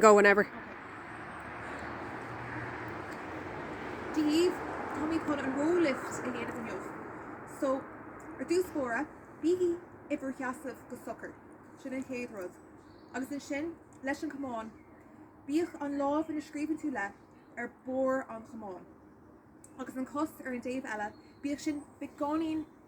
go whenever. daoibh. Táimid chun an roll lift a dhéanamh inniu. So, ar dtús báire, bígí in bhur seasamh go socair, sin an chéad rud. Agus ansin, leis an gcamán, bíodh an lámh ina scríobhann tú le, ar barr an chamáin. Agus an cos ar an dtaobh eile, bíodh sin beagáinín,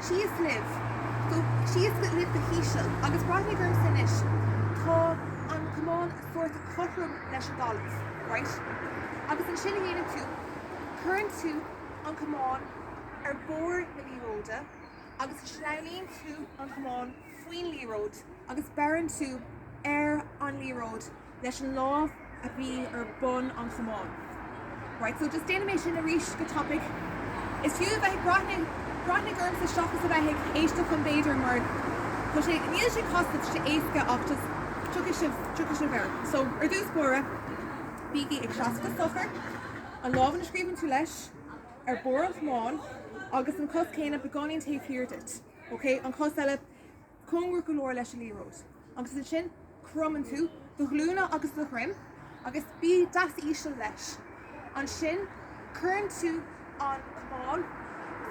Síos libh, síos libh go híseal agus breathnaigh ormsa anois, tá an camán sórt cothrom leis an dtalamh, raight? Agus séard a dhéanann tú, cuireann tú an camán ar bharr na liathróide agus sleamhnaíonn tú an camán faoin liathróid agus beireann tú ar an liathróid. leis an lámh a bhí ar bun an chamáin. Right, so just déanfaidh mé sin arís go tapaidh. Is fiú a bheith ag breathnaigh, breathnaigh ormsa seachas a bheith ag éisteacht liom b'fhéidir mar tá sé, níl sé casta, tá sé éasca ach just tiocfaidh sibh, tiocfaidh sibh air. So, ar dtús báire, bígí ag seasamh go socair, an lámh ina scríobhann tú leis ar barr an chamáin agus an cos céanna beagáinín taobh thiar díot, okay? An chos eile. cóngarach go leor leis an liathróid, agus ansin cromann tú do ghlúine agus do dhroim agus bí deas íseal leis. Ansin cuireann tú an camán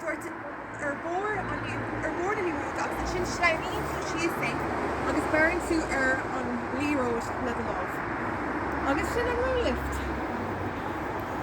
sórt ar bharr an ar bharr na liathróide agus ansin sleamhnaíonn tú faoi é agus beireann tú ar an liathróid le do lámh. Agus sin an Roll Lift!